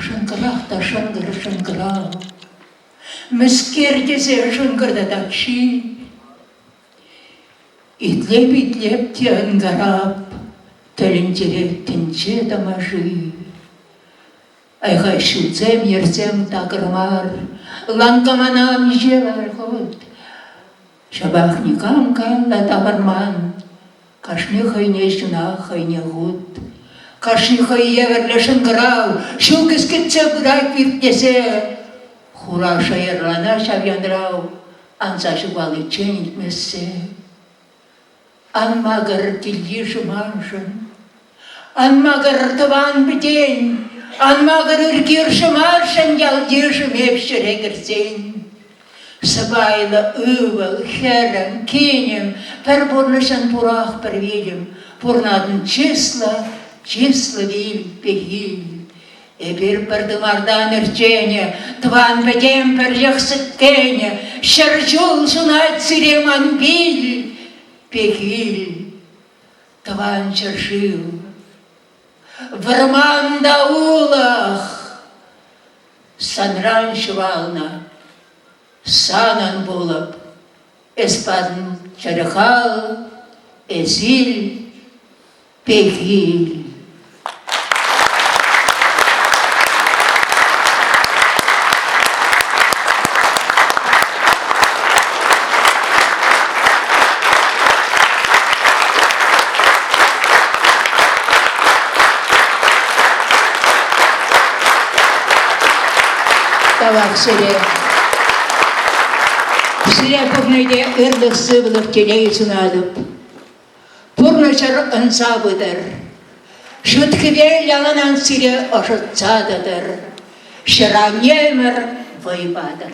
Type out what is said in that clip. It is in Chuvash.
Шӑнкӑрах та шӑнкӑр шӑнкӑрав. Мӗскер тесе шӑнкӑртатак ҫи. Итлеп-итлеп те ӑнкарап, тӗлӗнтерет тӗнче тамаши. Айхай ҫутсем, йӗрсем такӑр мар, ланкамана миҫе хут Ҫапах никам калла тавӑрман. Кашни хӑйне ҫынах хӑйне хут. Кашни хӑй евӗрлӗ шӑнкӑрав ҫул кӗскетсе пырать пир тесе. Хура шӑйӑрлана ҫав янрав анса ҫухаличчен илтмессе. Ан макӑр кил-йышӑ маншӑн. Ан макӑр тӑван-пӗтен, ан макӑр ӳркершӗ маршӑн ял-йышӑм эп ҫӗре кӗрсен. Сӑпайлӑ ывӑл, хӗрӗм, кинӗм, пӗр пурнӑҫӑн пурах пӗр витӗм, пурнатӑн чыслӑ, чыслӑ вил, пехил. Эпир пӗр тымартан ӗрченӗ, тӑван пӗтем пӗрлӗх сӗткенӗ, ҫӗр ҫул ҫунать сире ман пил, пехил. Тӑван ҫӗршыв, вӑрман та улӑх санран ҫухалнӑ. Санӑн пулӑп, эс пан чӗрхал, эсил. Пехил. Тавах сире. Сире пурне те ырлӑх-сывлӑх, телей сунатӑп. Пурнӑҫӑр ӑнса пытӑр. Шӳт-хӗвел яланах сире ӑшӑтса тӑтӑр. Ҫӗр-аннемӗр вӑй патӑр.